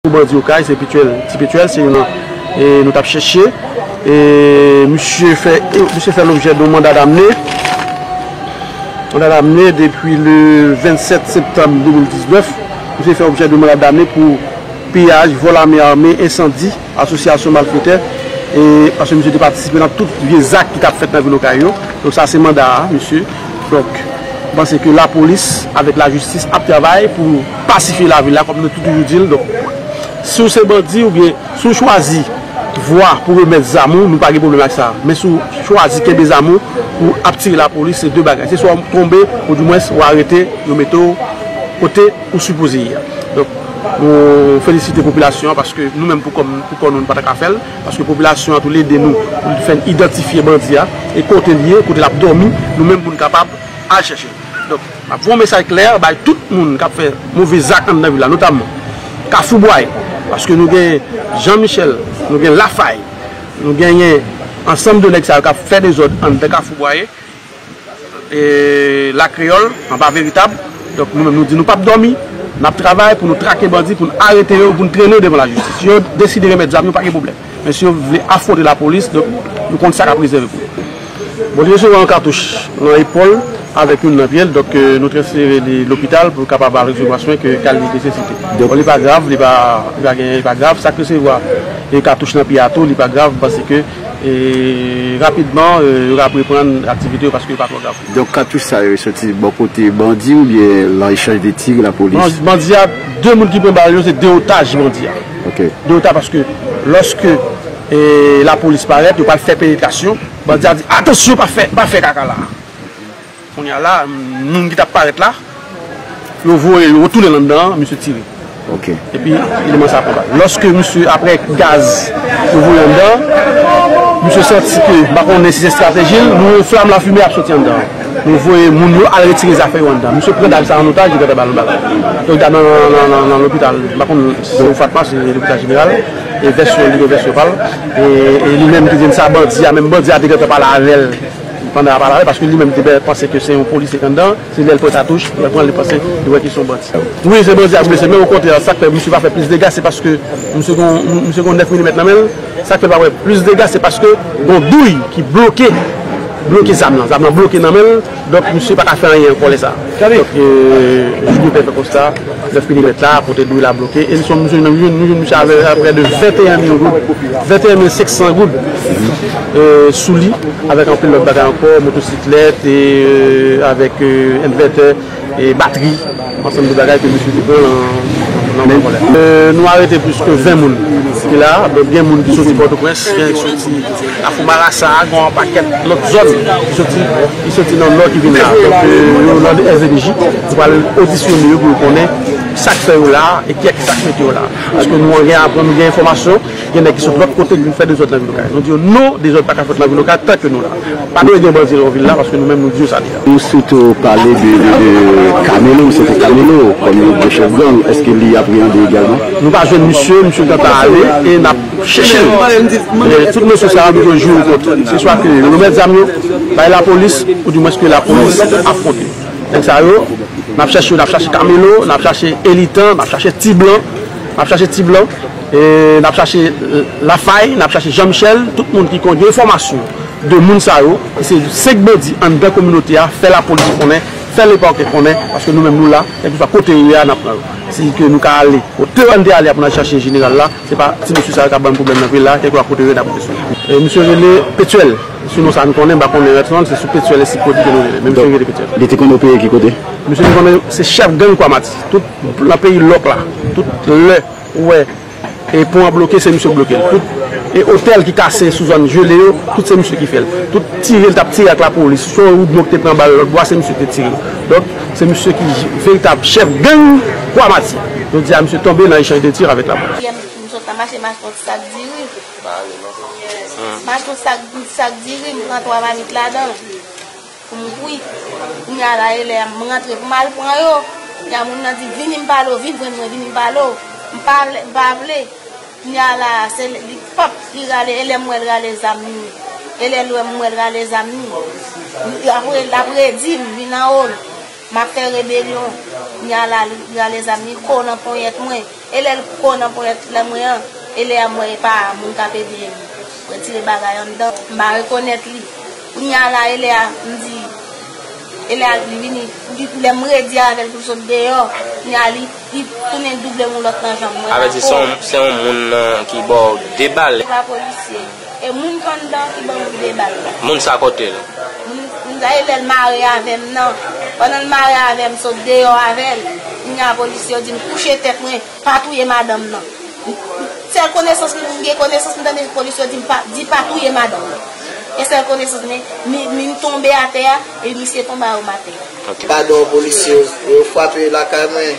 Pou bandi okay se petuel ti petuel se yon nou tap cheche e misye fè misye fè lobjè de yon manda damne manda damne depi le 27 septanm 2019 misye fè objè de manda damne pou piyaj vol ame ame ensandi asosyasyon malfetè e paske misye te patisipe nan tout vye zak ki tap fèt nan vil okay yo donk sa se manda misye donk mwen panse ke lapolis avek lajistis ap travay pou Pasifye lavil la kòm nou te toujou di l. Donk, si w se bandi oubyen si w chwazi vwa pou remèt zam ou, nou pa gen pwoblèm ak sa. Men si w chwazi kenbe zam ou pou ap tire lapolis, se de bagay. Se swa w tonbe ou dimwens ou arete, yo mete w kote ou sipoze ye a. Donk, nou felisite popilasyon an paske nou menm pou kò nou, pou kò nou, nou pa ta ka fè l. Paske popilasyon an tou li ede nou pou li fè n idantifye bandi a e kote l ye, kote l ap dòmi, nou menm pou nou kapab al chèche l. Donk. M ap voye yon mesaj klè bay tout moun k ap fè move zak anndan vil la, notamman Kafou Bway, paske nou gen Jan Michèl, nou gen Lafay, nou genyen ansanm de nèg sa yo k ap fè dezòd anndan Kafou Bwaye, Lakreyòl, anba Veritab. Donk, nou menm nou di nou p ap dòmi, n ap travay pou nou trake bandi, pou nou arete yo, pou nou trennen yo devan lajistis. Si yo deside remèt zam yo, pa gen pwoblèm. Mesye yo vle afwonte lapolis donk yo konn sa k ap rezève pou yo. Bon li resevwa yon katouch nan epòl avèk youn nan pye l donk nou transfere li lopital pou l kapab al resevwa swen ke ka li nesesite. Bon li pa grav li pa genyen li pa grav sa k resevwa katouch nan pye a tou li pa grav pase ke rapidman yo ka ap reprann aktivite yo paske yo pa twò grav. Donk katouch sa yo soti bò kote bandi oubyen lan echanj de tir lapolis? Bandi a 2 moun ki pran bal yo se 2 otaj bandi a. de reta paske loske la polis paret yo pral fe penetration bandi a di atansyon pa fe kaka la kounya la moun ki tap paret la yo voye yo retounen lan dan misye tire epi eleman sa konba loske misye apre gaz yo voye lan dan misye santi ke bakonnen si se strateji nou flam la fime ap soti lan dan. Yo voye moun yo al retire zafè yo anndan. Misye pran dam sa an otaj, li gentan ba l yon bal. Donk dam nan nan lopital, m pa konn si se yon fatma, si se lopital jeneral, e vèsyon l, li gen vèsyon pa l. E li menm ki di l sa, bandi a menm, bandi a te gentan pale avè l pandan a pale avè l, paske li menm te dè panse ke se yon polisye k anndan, se lè l pran katouch, lè l pran l li panse, li wè ke se yon bandi. Wi, se bandi a ki blese, men okontrè sa k fè misye pa fè plis dega se paske misye gen yon 9 milimèt nan men l. Sak fè pa wè plis dega se paske gon douy ki bloke bloke zam lan zam lan bloke nan menl donk misye paka fè anyen ankò lè sa donk jipou te fè konsta 9 milimèt la kote douy la bloke e li son misye nou jwenn misye avè prè de 21 mil goud 21 mil 500 goud souli avèk anpil lòt bagay ankò motosiklèt avèk envètè. batri, ansanm de bagay ke misye te pran nan men vòlè. Nou arete plis ke 20 moun ki la, donk gen moun ki soti Pòtoprens, gen ki soti Kafou Marasa, gen yon pakèt lòt zòn ki soti nan Nò ki vin la. Donk yo nan SDPJ, nou pral odisyone yo pou nou konnen sak fè yo la e kiyès ki sak mete yo la. Paske nou gen enfòmasyon. Gen nèg ki sot lòt kote ki vin fè dezòd nan vil okay. Nou di yo non dezòd paka fèt nan vil okay tanke nou la. Pa dwe gen bandi nan vil la paske nou menm nou di yo sa li a. Ou site ou pale de Camelo, misye te Camelo kòm yon gwo chèf gang, èske li apreyande egalman? Nou pa jwenn misye, misye gentan ale e n ap chèche l. Men tout mesye sa yo nou jwe jou kont yo. Se swa ke yo remèt zam yo bay lapolis ou di mwens ke lapolis afwonte nèg sa yo. N ap chèche yo, n ap chèche Camelo, n ap chèche Elitan, n ap chèche Ti blan, n ap chèche Ti blan. N ap chache Lafay, n ap chache Jean Michel, tout moun ki konn gen enfòmasyon de moun sa yo, ki se 5 bandi anndan kominote a, fè lapolis konnen, fè lepake konnen, paske nou menm nou la, kèlkeswa kote yo ye a, n ap pran yo. Si ke nou ka ale kote yo an te ale a pou n al chache jeneral la, se pa ti mesye sa yo k ap ban n pwoblèm nan vil la, kèlkeswa kote yo ye n ap rive sou yo. Misye rele Petyèl, sou non sa n konnen, m pa konnen rès non l, se sou Petyèl ensi Kodi ke nou rele l, men misye rele Petyèl. Li te konn opere ki kote? Misye te konn se chèf gang Kwa Mati, tout nan peyi lòk la, tout lè. Ou wè e pon an bloke se misye k bloke l tout e otèl ki kase sou zòn jele yo tout se misye ki fè l tout tire l t ap tire ak lapolis sou yon woudmo ki te pran bal lòtbò a se misye ki te tire l donk se misye ki veritab chèf gang kwa mati jodi a misye tonbe nan echanj de tir avèk lapolis. Pou m kouri. Kounye a la e lè a m rantre pou m al pran yo. Kounye a moun nan di, Vini m pale w, vin jwenn mwen, vini m pale w. M pa vle, m pa vle. Kounye a la a, se li, pap, li rale, e lè m wè l rale zam ni. E lè l wè m wè l rale zam ni. Li ap re, l ap redi m, vin anwo l. M ap fè rebelyon. Kounye a la, li rale zam ni, ko nan ponyèt mwen. E lè l ko nan ponyèt lè mwen an, e lè a m wè e pa moun k ap ede m retire bagay anndan. M pa rekonèt li. Kounya a la e lè a m di e lè a li vini lè m redi avèl pou l sot deyò kounya a li tounen double m yon lòt nan janm mwen pa ko. Avètissons se yon moun ki ba w 2 bal. Se pa polisye. E moun ki anndan ki ban m 2 bal la. Moun sa kote l? Moun sa e lè l mare avè m nan. Pandan l mare avè m sot deyò avè l kounya a polisye yo di m kouche tèt mwen. Pa touye madanm nan. Sèl konesans m gen konesans m tande polis yo di di pa touye madanm nan. E sèl konesans men min tonbe atè a e misye tonbe a oum atè. Gadon polisye yo frape lakay mwen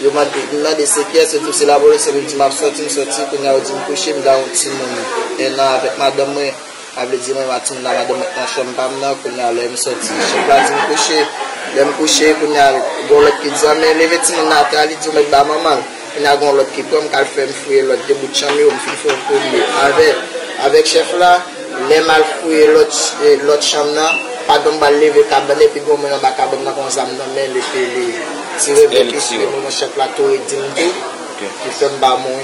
yo mande se kiyès yo dim se lapolis epi m di map soti m soti kounya yo dim kouche m garon timoun 1 an avèk madanm mwen. Sa vle di mwen matin la madanm nan t nan chanm pa m nan kounye a lè m soti chèf la di m kouche lè m kouche kounye a gon lòt ki di an men leve timoun nan atè a li di w mèt ba manman l kounye a gon lòt ki pran m k al fè m fouye lòt 2 bout chanm yo m fin fè yon premye avè avèk chèf la lè m al fouye lòt lòt chanm nan padan m pral leve kabann nan epi gon moun anba kabann nan gon zam nan men l epi li tire vèkisyon nan chèf la tou li di m tou li fè m ba moun.